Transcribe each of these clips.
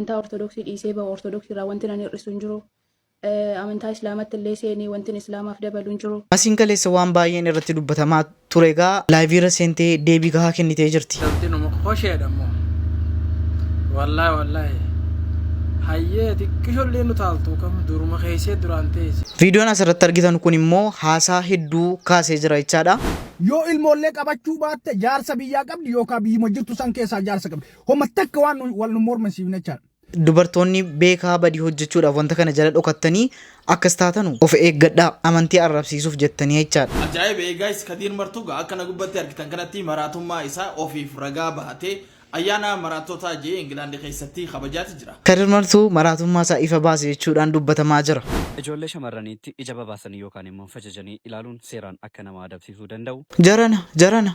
amantaa ortodoksii dhiisee bahu ortodoksii irraa wantin ani hir'isu hin jiru. Eh, Amantaa islaamatti illee seenii wantin islaamaaf dabalu hin jiru. Asiin kaleessa waan baay'een irratti dubbatamaa ture egaa laayivii irra seentee deebii gahaa kennitee jirti. Galtinuma hosheedha immoo. Wallaahi wallaahi. Hayyee xiqqishollee nu taaltu kam duruma keessee duraan teesse. Viidiyoon asirratti argitan kun immoo haasaa hedduu kaasee jira jechaadha. Yoo ilmoollee qabachuu baatte jaarsa biyyaa qabdi yookaan biyyuma jirtu san keessaa jaarsa qabdi. Homa takka waan nu- wal nu mormisiifne jechaadha. Dubartoonni beekaa badii hojjechuudhaaf wanta kana jala dhokattanii akkas taatanu of eeggadhaa amantii arrabsiisuuf jettanii jechaadha. Ajaa'iba ee guys kadiir martuu gaa akka na gubbatti argitan kanatti maraatummaa isaa ofiif ragaa bahatee ayyaana maraattootaa jee Ingilaandi keessatti kabajaati jira. Kadir Martuu maraatummaa isaa ifa baase jechuudhaan dubbatamaa jira. Ijoollee shamarraniitti ija babaasanii yookaan immoo fajajanii ilaaluun seeraan akka nama adabsiisuu danda'u. Jarana! Jarana!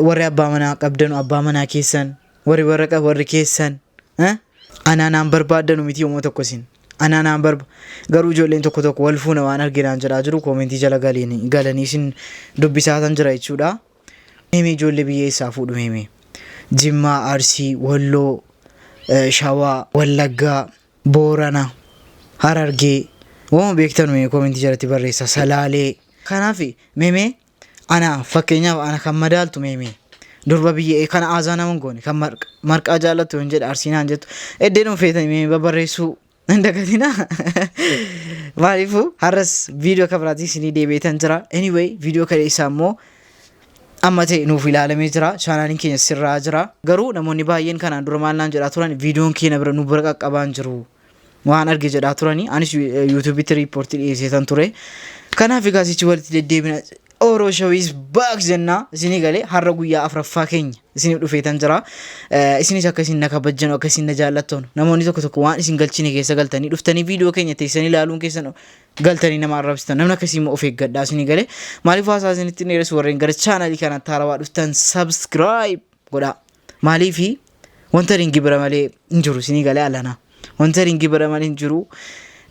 Warri abbaa manaa qabdanu abbaa manaa keessan, warri warra qabu warri keessan. eh? Anaa naan barbaaddanu miti yommuu tokko isin. Anaa naan barba garuu ijoolleen tokko tokko wal fuuna waan arginaan jedhaa jiru koomentii jala galiin galanii isin dubbisaatan jira jechuudha. Himi ijoollee biyya eessaa fuudhu himi. Jimmaa, Arsii, Walloo, eh, Shawaa, Wallaggaa, Boorana, Harargee. Waan beektanu mee koomentii jalatti barreessa. Salaalee. Kanaaf memee Ana fakkeenyaaf ana kan madaaltu meemee durba biyya ee kana aazaa nama hin goone kan marq- marqaa jaallattu hin jedhe arsiinaan jettu eddee dhuun feetanii meemee babarreessuu hin dagatina maaliifuu har'as viidiyoo akka biraatii isinii deebi'eetan jira anyway viidiyoo kana isaa immoo amma ta'e nuuf ilaalamee jira chaanaaliin keenya sirraa jira garuu namoonni baay'een kanaan dura maal naan jedhaa turan viidiyoon keenya bira nu bira qaqqabaan jiru waan arge jedhaa turani anis yuutuubitti riippoortii dhiyeesseetan ture kanaaf egaa sichi walitti deddeebina Oro Show is back jennaa isinii galee har'a guyyaa afraffaa keenya isiniif dhufeetan jira Eh, isinis akka isin na kabajjanu akka isin na jaallattoonu namoonni tokko tokko waan isin galchine keessa galtanii dhuftanii viidiyoo keenya teessanii ilaaluun keessan galtanii nama arrabsitan namni akkasii immoo of eeggadhaa isinii galee maaliif haasaa isinitti hin dheeressu warreen gara chaanalii kanatti haarawaa dhuftan subscribe godhaa Maaliif wanta hin gibira malee hin jiru isinii galee alana. Wanta hin gibira malee hin jiru.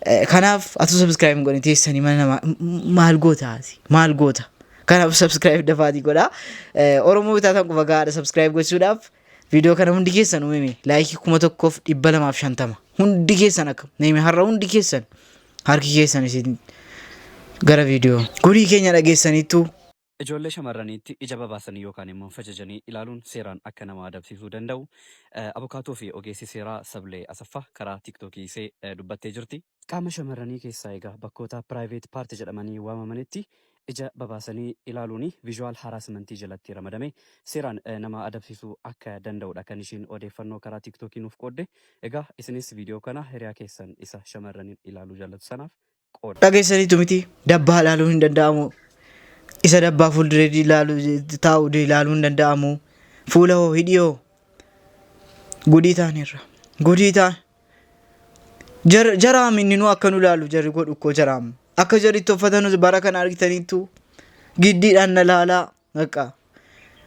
Eh, Kanaaf atuu subscribe hin godhin teessanii mana namaa M- maal goota ati? Maal goota? Kanaaf subscribe dafaatii godha. Eh, Oromoo bitaa tan quba gahaadha subscribe gochuudhaaf. Viidiyoo kana hundi keessan uumime laayikii kuma tokkoof dhibba lamaaf shantama. Hundi keessan akka neeme har'a hundi keessan harki keessan isin gara viidiyoo. Gurii keenya dhageessaniittu Ijoollee shamarraniitti ija babaasanii yookaan immoo fajajanii ilaaluun seeraan akka nama adabsiisuu danda'u abukaatoo fi ogeessi seeraa Sablee Asaffaa karaa TikTok isee dubbattee jirti. Qaama shamarranii keessaa egaa bakkoota private part jedhamanii waamamanitti ija babaasanii ilaaluun visual harassment jalatti ramadame seeraan nama adabsiisuu akka danda'u dha kan ishiin odeeffannoo karaa TikTok nuuf qoodde. Egaa isinis video kana hiriyaa keessan isa shamarraniin ilaaluu jaallatu sanaaf qoodama. Dhageessaniitu mitii? Dabbaa ilaaluun hin danda'amu. Isa dabbaa fuulduree ilaalu taa'u ilaaluun hin danda'amu. Fuula hoo hidhii hoo? Godii taaneerra. Godii taan. Jar- Jaraam inni nu akka nu ilaalu jarri godhu koo jaraam. Akka jarri itti uffatanus bara kana argitaniittu giddiidhaan na laalaa. Bakka.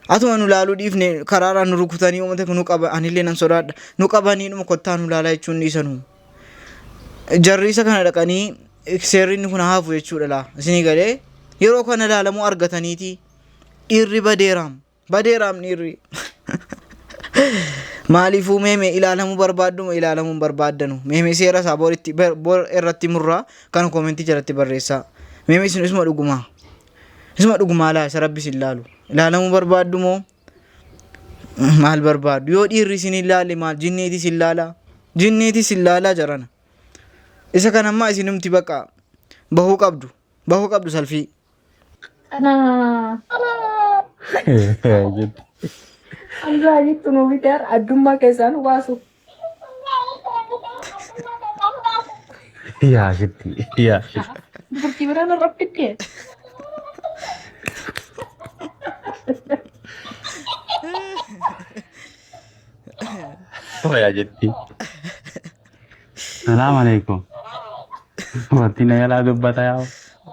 Atuma nu laaluu dhiifne karaaraan nu rukutanii uummata kun nu qaba anillee nan sodaadha. Nu qabanii dhuma kottaa nu laalaa jechuun dhiisanu. Jarri isa kana dhaqanii seerri inni kun haafu jechuudha laa. Isinii galee yeroo kana laalamuu argataniiti dhiirri badeeraam. Badeeraam dhiirri. Maaliifuu meeme ilaalamuu barbaadduma ilaalamuu hin barbaaddanu. Meeme seera isaa boritti bar- bor irratti murraa kan koomentii jalatti barreessaa. Meeme isin isuma dhugumaa. Isuma dhugumaa laa isa rabbi sin laalu. Ilaalamuu barbaaddu moo maal barbaaddu? Yoo dhiirri isin hin laalle maal jinniiti sin laalaa? Jinniiti sin laalaa jarana. Isa kan ammaa isinumti baqa bahuu qabdu. Bahuu qabdu salfii. Anzaa jettu nuu biteer addummaa keessaan baasuuf. Yaa shitti. Yaa shitti. Dubartii biraa na rabbitee. Yaa jetti. Salaam alaikum. Dubartii na yalaa dubbata yaa.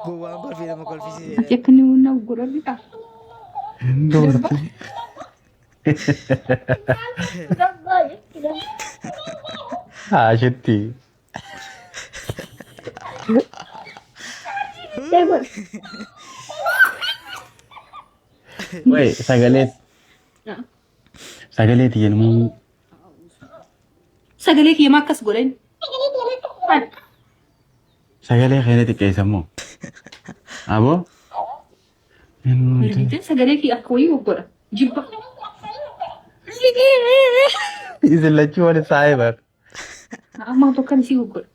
Gowwaan kolfii nama kolfisiise. Jettanii hundaaf godhanii dha. Dubartii. Haashitti. Wai sagalee sagalee tiyya numuun Sagalee kiyya maa akkas godhan? sagalee keenya xiqqeessa moo? Aboo Bilbiilteen sagalee kee akka wayii goggodha. Jibba. Isin lachuu wal saa'ee bar. Amma tokkan isii goggodha.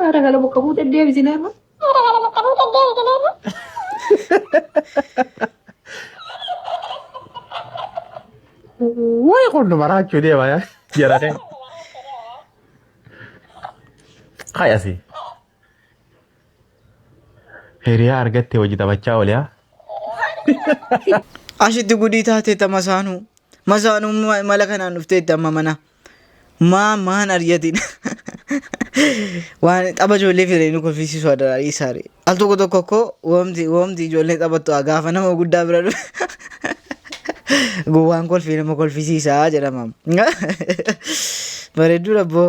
Haadha gala bakka buutee deebisina irra. Wayi kun nu maraachuu deema yaa. Jara kee. Hayasi. Hiriyaa argattee wajji taphachaa oolaa. Ashitti gudii taatee ta masaanuu. Masaanuu ma- mala kanaan dhuftee itti amma mana. Maa maan aryatiin. Waan tapha ijoollee firee nu kolfisiisu adaraa dhiisaare. Al tokko tokko koo woomti woomti ijoollee taphattu haa gaafa nama guddaa bira dhufe. Gowwaan kolfii nama kolfisiisaa jedhama. Bareedduu dhabboo.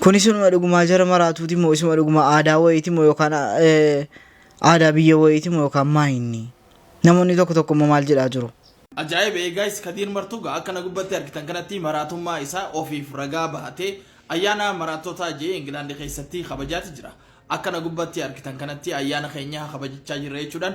Kun isinuma dhugumaa jara maraatuuti moo isuma dhuguma aadaa wayiiti moo yookaan eh, aadaa biyya wayiiti moo yookaan maa inni? Namoonni tokko tokko immoo maal jedhaa jiru? Ajaa'iba ee gaayis Kadiir Martuu gaa akkana gubbatti argitan kanatti maraatummaa isaa ofiif ragaa bahatee ayyaana maraattotaa jee Ingilaandi keessatti kabajaati jira. Akkana gubbatti argitan kanatti ayyaana keenya kabajachaa jirra jechuudhaan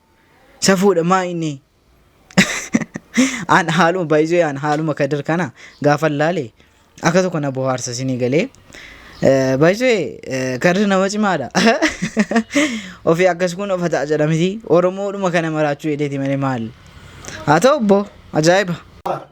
Safuudha maa inni an haaluma baay'isuu an haaluma kadir kana gaafa laale akka tokko na bohaarsa sinii galee baay'isuu kadir nama cimaadha ofii akkas kun of ta'a jedhamiti oromoodhuma kana maraachuu edeeti malee maal haa ta'u obbo ajaa'iba.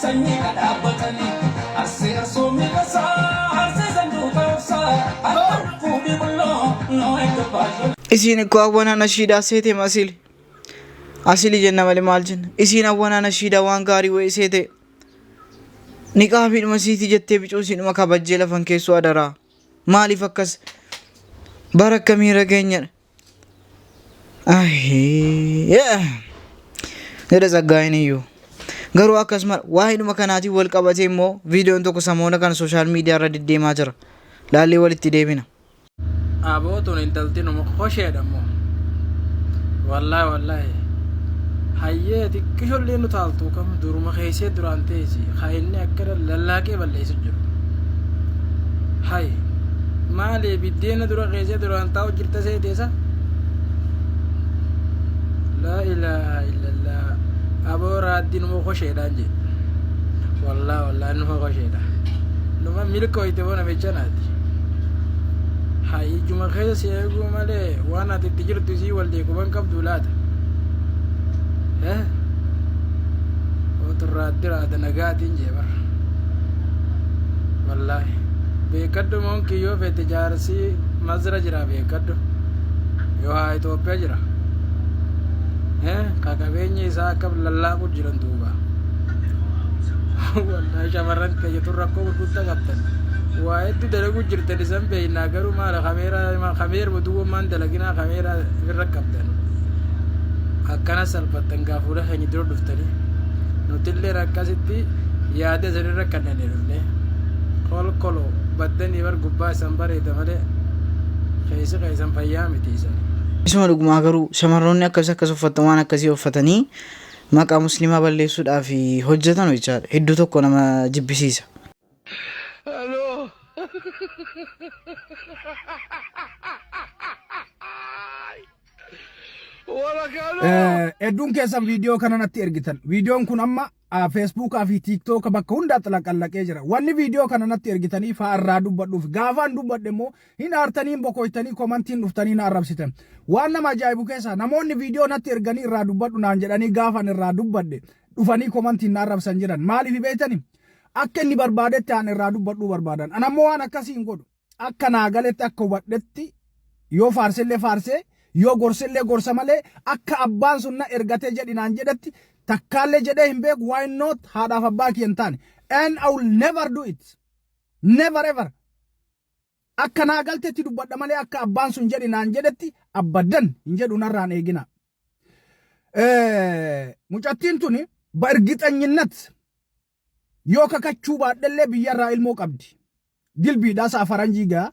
Sanyii ka dhaabbatani Arsee Arsoon miidhasaa Arsee sanduuqa obsaa Harka lubbuu bibulloo Noo edda baay'ee. Isiin ikko awwanaa nashiidaa seete masili asili jenna male maal jenna isiin awwanaa nashiidaa waan gaarii wa'ii seete niqaabiidhuma siiti jettee bicuu isiidhuma kabajjee lafan keessoo adaraa maaliif akkas bara akkamiirra geenyadha Jedha Tsaggaayeen iyyuu. Garuu akkasuma waa'eedhuma kanaatiin wal qabatee immoo viidiyoon tokko samoona kana sooshaal miidiyaa irra deddeemaa jira. Laallee walitti deebina. Abootun intalti numa hosheedha immoo. Wallaahi wallaahi. Hayyee xiqqishollee nu taaltuu kam duruma keessee duraan teessi haa inni akkana lallaaqee balleessu jiru. Hayi maaliif Diina dura keessee duraan taa'u jirta seeteesa. Laa ilaaha illallah. Aboo raaddi numa kosheedhaan jee. Wallaa wallaa numa kosheedha. Numa milkooyte boo namicha naati. Haa ijuma keessa si eeguu malee waan ati itti jirtu isii wal deekuban qabdu laata. Eh? Otu raaddi raada nagaatiin jee bara. Wallaahi. Beekadhu monkey yoo fete jaarsi mazra jira beekadhu yoo haa Itoophiyaa jira eh ka qabeenyi isaa akka lallaaqu jiran duuba waldaa shamarran keenya tun rakkoo gurguddaa qabdan waa hedduu dalaguu jirtan isan beeynaa garuu maala kameeraa kameeruma duwwummaan dalaginaa kameeraa irra qabdan akkana salphattan gaa fuula keenya dura dhuftanii nutillee akkasitti yaada isan irra kannanee dhufnee kolkolo baddanii bar gubbaa isan bareeda malee keessi keessan fayyaa miti isan. Isuma dhugumaa garuu shamarroonni akkas akkas uffattan waan akkasii uffatanii maqaa musliimaa balleessuudhaaf hojjetan hojjechaadha hedduu tokko nama jibbisiisa. Hello. Wala kanu. Eh, Hedduun keessan viidiyoo kana natti ergitan. Viidiyoon kun amma Feesbuukaa fi Tiiktooka bakka hundaatti laqallaqee jira. Wanni viidiyoo kana natti ergitanii faa irraa dubbadhuuf gaafaan dubbadhe immoo hin aartanii hin bokoytanii komantiin dhuftanii na arrabsitan. Waan nama ajaa'ibu keessaa namoonni viidiyoo natti erganii irraa dubbadhu naan jedhanii gaafan irraa dubbadhe dhufanii komantiin na arrabsan jiran. Maaliif beektanii? Akka inni barbaadetti aan irraa dubbadhuu barbaadan. Anammoo waan akkasii hin godhu. Akka naa galetti akka hubadhetti yoo faarsellee faarsee yoo gorsellee gorsa malee akka abbaan sun na ergatee jedhi naan jedhetti takkaallee jedhee hin beeku why not haadhaaf abbaa kiyya hin taane and I will never do it never ever akka naa galtetti dubbadha malee akka abbaan sun jedhi naan jedhetti abbaddan hin jedhu narraan eegina. Mucattiin tuni በእርግጠኝነት Yoo kakachuu baadhellee biyyarraa ilmoo qabdi. Dilbiidhaa sa'a faranjii gaa.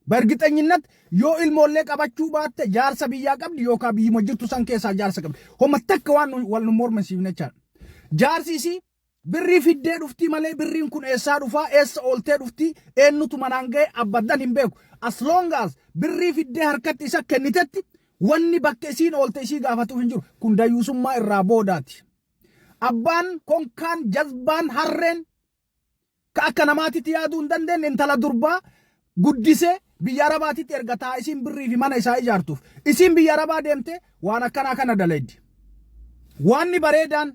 Bargixanyinnat yoo ilmoollee qabachuu baatte jaarsa biyyaa qabdi yookaan biyyuma jirtu san keessaa jaarsa qabdi. Homa takka waan nu- wal nu mormisiifne jechaadha. Jaarsi isii birrii fiddee dhuftii malee birriin kun eessaa dhufaa eessa ooltee dhuftii eenyutu manaan ga'e abbaddan hin beeku. As long as birrii fiddee harkatti isa kennitetti wanni bakka isiin oolte isii gaafatuuf hin jiru. Kun dayyuusummaa irraa boodaati. Abbaan, konkaan, jazbaan, harreen ka akka namaatitti yaaduu hin dandeenye intala durbaa guddisee biyya arabaatitti erga taa isiin birrii fi mana isaa ijaartuuf. Isiin biyya arabaa deemtee waan akkanaa kana dalaydi. Waanni bareedaan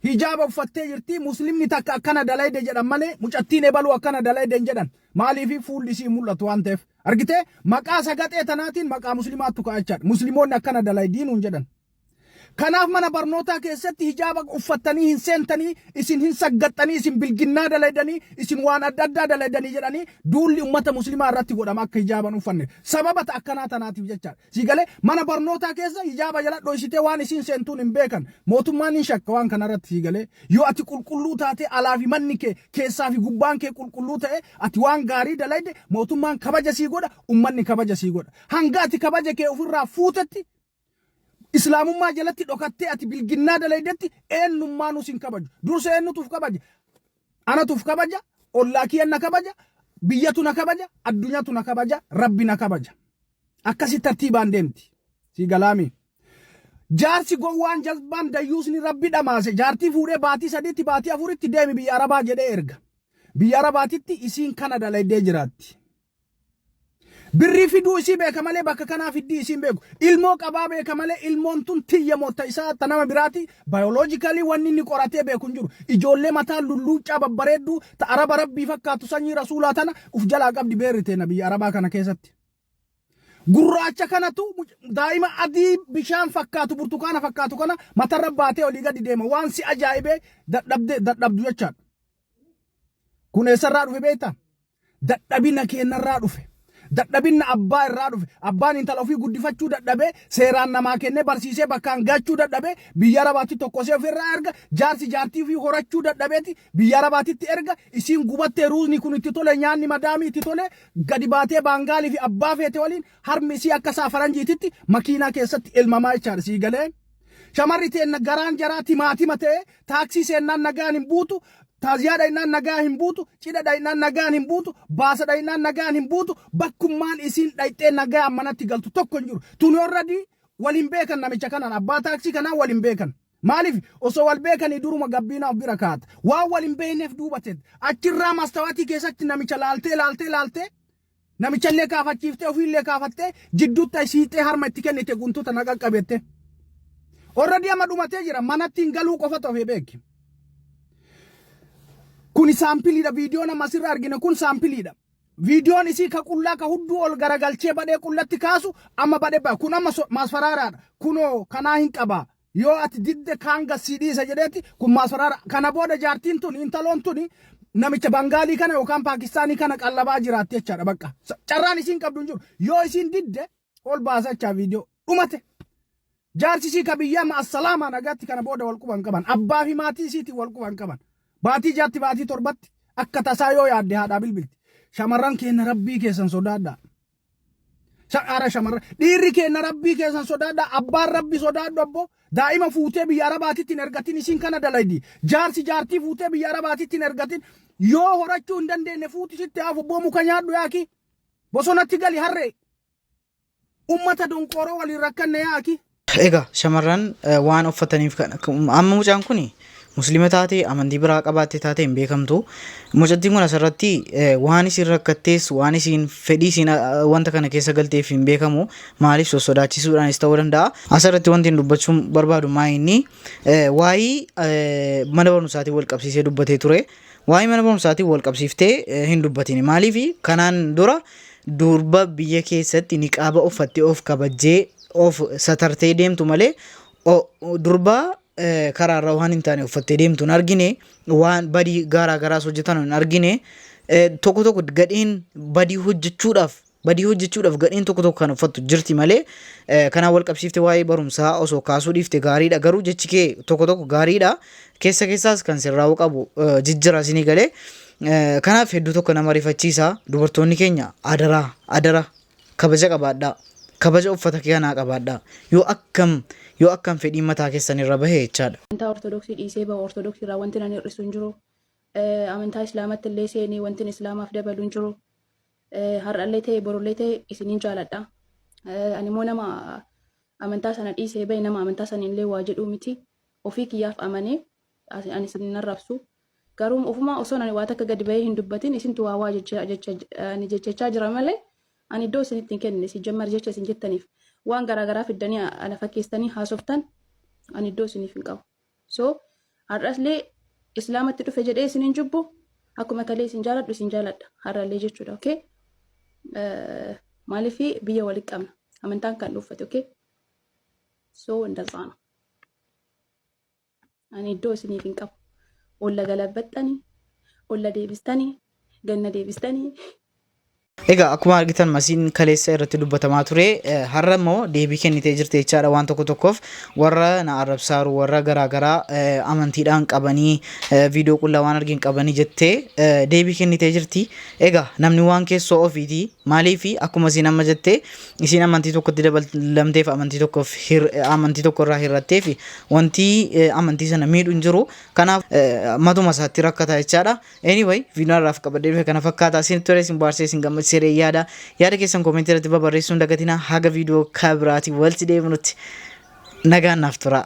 hijaaba uffattee jirti muslimni takka akkana dalayde jedhan malee mucattiin ebaluu akkana dalayde hin jedhan maaliif fuulli isii mul'atu waan ta'eef argitee maqaa sagaxee tanaatiin maqaa muslimaattu ka'achaadha muslimoonni akkana dalaydiin hin jedhan Kanaaf mana barnootaa keessatti hijaaba uffattanii hin seentanii, isin hin saggaxxanii, isin bilginnaa dalaydanii, isin waan adda addaa dalaydanii jedhanii duulli ummata muslimaa irratti godhama akka hijaaba hin uffanne. Sababa ta akkanaa tanaatiif jecha. Sii galee? Mana barnootaa keessa hijaaba jala dhoysitee waan isiin seentuun hin beekan. Mootummaan hin shakka waan kana irratti sii galee? Yoo ati qulqulluu taatee alaa fi manni kee, keessaa fi gubbaan kee qulqulluu ta'e, ati waan gaarii dalayde mootummaan kabaja sii godha, ummanni kabaja sii godha. Hanga ati kabaja kee ufirraa fuutetti Islaamummaa jalatti dhokattee ati bilginnaa dalaydetti eenyummaanuu sin kabaju. Dursa eenyutuuf kabaja? Anatuuf kabaja, ollaa kiyya na kabaja, biyyatu na kabaja, addunyaatu na kabaja, rabbi na kabaja. Akkasi tartiibaan deemti. Sii galaami. Jaarsi gowwaan jazbaan dayyuusni rabbi dhamaase jaartii fuudhee baatii sadiitti baatii afuritti deemi biyya arabaa jedhee erga. Biyya arabaatitti isiin kana dalaydee jiraatti. Birrii fiduu isii beeka malee bakka kanaa fiddii isiin beeku. Ilmoo qabaa beeka malee ilmoon tun tiyya mootta isaa ta nama biraati biologically wanni inni qoratee beeku hin jiru. Ijoollee mataa lulluuccaa babbareedduu ta araba rabbii fakkaatu sanyii rasuulaa tana uf jalaa qabdi beerri teena biyya arabaa kana keessatti. Gurraacha kanatu daa'ima adii bishaan fakkaatu burtukaana fakkaatu kana matarra baatee olii gadi deema waan si ajaa'ibee dadhabde dadhabdu jechaadha. Kun eessarraa dhufe beektaa? dadhabina keenna irraa dhufe. Dadhabinna abbaa irraa dhufe. Abbaan intala ofii guddifachuu dadhabee seeraan namaa kennee barsiisee bakkaan gahachuu dadhabee biyya arabaatti tokkosee ofii irraa erga jaarsi jaartii ofii horachuu dadhabeeti biyya arabaatitti erga isiin gubattee ruuzni kun itti tole nyaanni madaamii itti tole gadi baatee baangaalii fi abbaa feete waliin harmi isii akka isaa faranjiititti makiinaa keessatti elmamaa jechaadha sii galee Shamarri teenna garaan jaraa timaatima ta'ee taaksii seennaan nagaan hin buutu, taaziyaa dhaynaan nagaa hin buutu, cidha dhaynaan nagaan hin buutu, baasa dhaynaan nagaan hin buutu, bakkummaan isiin dhayxee nagaan manatti galtu tokko hin jiru. Tuni already wal hin beekan namicha kanaan abbaa taaksii kanaan wal hin beekan. Maaliif osoo wal beekanii duruma gabbiinaa of bira kaa'ata. Waan wal hin beekneef duuba teet. Achirraa mastawaatii keessatti namicha laaltee laaltee laaltee Namichallee kaafachiiftee ofiillee kaafattee jidduutti ayi siixee harma itti kennite guntu tana qaqqabi jettee. Orradii amma dhumatee jira manatti hin galuu qofatu hafee beeki. Kuni saampiliidha viidiyoon amma asirra argine kun saampiliidha. Viidiyoon isii ka qullaa ka hudduu ol garagalchee badhee qullatti kaasu amma badhe ba kun amma so- maasfaraaraadha kunoo kanaa hin qabaa Yoo ati didde kaan gad sii dhiisa jedheeti kun maasaraara. Kana booda jaartiin tuni intaloon tuni namicha Bangaalii kana yookaan Paakistaanii kana qallabaa jiraatti jechaadha bakka. Carraan isiin qabdu hin jiru. Yoo isiin didde ol baasa jechaa viidiyoo dhumate. Jaarsi isii ka biyyaa ma assalaamaa nagaatti kana booda wal quban qaban. Abbaa fi maatii isiitiin wal quban qaban. Baatii jaatti baatii torbatti akka tasaa yoo yaadde haadhaa bilbilti. Shamarran keenya rabbii keessan sodaadhaa. Shadhaara shamarra. Dhiirri keenna rabbii keessan sodaadha. Abbaan rabbi sodaadhu abbo. Daa'ima fuutee biyya arabaatitti hin ergatin isiin kana dalaydi. Jaarsi jaartii fuutee biyya arabaatitti hin ergatin. Yoo horachuu hin dandeenye fuuti sitti haafu abboo muka nyaadhu yaaki. Bosonatti gali harree. Ummata donqooroo waliin rakkanne yaaki. Egaa shamarran waan uffataniif kan amma mucaan kun muslima taate amantii biraa qabaatte taate hin beekamtu. Mucattiin kun asirratti waan isin rakkattees waan isin fedhii isin wanta kana keessa galteef hin beekamu maaliif sossodaachisuudhaanis ta'uu danda'a. Asirratti wanti dubbachuun barbaadu maa inni waa'ee mana barumsaatiin wal qabsiisee dubbatee ture. Waa'ee mana barumsaatiin wal qabsiiftee hin dubbatini maaliif kanaan dura durba biyya keessatti niqaaba uffattee of kabajjee of satartee deemtu malee durbaa karaarra waan hin taane uffattee deemtu hin argine waan badii gaaraa garaas hojjetan hin argine tokko tokko gadheen badii hojjechuudhaaf badii hojjechuudhaaf gadheen tokko tokko kan uffattu jirti malee kanaan wal qabsiifte waa'ee barumsaa osoo kaasuu dhiifte gaariidha garuu jechi kee tokko tokko gaariidha keessa keessaas kan sirraa'uu qabu jijjiraa sinii galee kanaaf hedduu tokko nama rifachiisa dubartoonni keenya adaraa adaraa Kabaja qabaadhaa. Kabaja uffata kee kanaa qabaadhaa. Yoo akkam yoo akkam fedhiin mataa keessan irra bahe jechaadha. Amantaa Ortodoksii dhiisee bahu Ortodoksii irraa wanti nan hir'isu hin jiru. Eh, Amantaa Islaamatti illee seenii wantin Islaamaaf dabalu hin jiru. Eh, Har'allee ta'e borullee ta'e isinin jaaladha. Eh, Ani immoo nama amantaa sana dhiisee bahe nama amantaa sana illee waa jedhuu miti. Ofii kiyyaaf amanee Asi- ani isin hin arrabsu garuu ofuma osoon ani waa takka gadi bahee hin dubbatin isintu waa waa jecha jecha ani jechachaa jira malee ani iddoo isinitti hin kenne si jammar jecha isin jettaniif waan garaa garaa fiddanii a- ana fakkeessanii haasoftan ani iddoo isiniif hin qabu so har'aslee islaamatti dhufe jedhee isin hin jibbu akkuma kalee isin jaaladhu isin jaaladha har'allee jechuudha okay Eh, maaliif biyya walitti qabna amantaan kan dhuunfate okay so እንደዛ ነው Ani iddoo isiniif hin qabu. Olla galabbaxxani, olla deebistani, ganna deebistani. Egaa akkuma argitan masiin kaleessa irratti dubbatamaa ture eh, har'a immoo deebii kennitee jirti jechaadha waan tokko tokkoof warra na arrabsaaru warra garaagaraa eh, amantiidhaan qabanii eh, viidiyoo qullaa waan argin qabanii jettee eh, deebii kennitee jirti. Egaa namni waan keessoo ofiiti maaliifi akkuma siin amma jettee isiin amantii tokkotti dabalamteef amantii tokkoof hir- eh, amantii tokko irraa hir'atteef wanti eh, amantii sana miidhu hin jiru kanaaf eh, matuma isaatti rakkata jechaadha anyway viidiyoo har'aaf qabadee dhufe kana fakkaata isin ture isin baarsee isin gammachiisee yaada yaada keessan koomentii irratti babarreessuun dagatina haga viidiyoo kabiraati walti deebinutti nagaan naaf turaa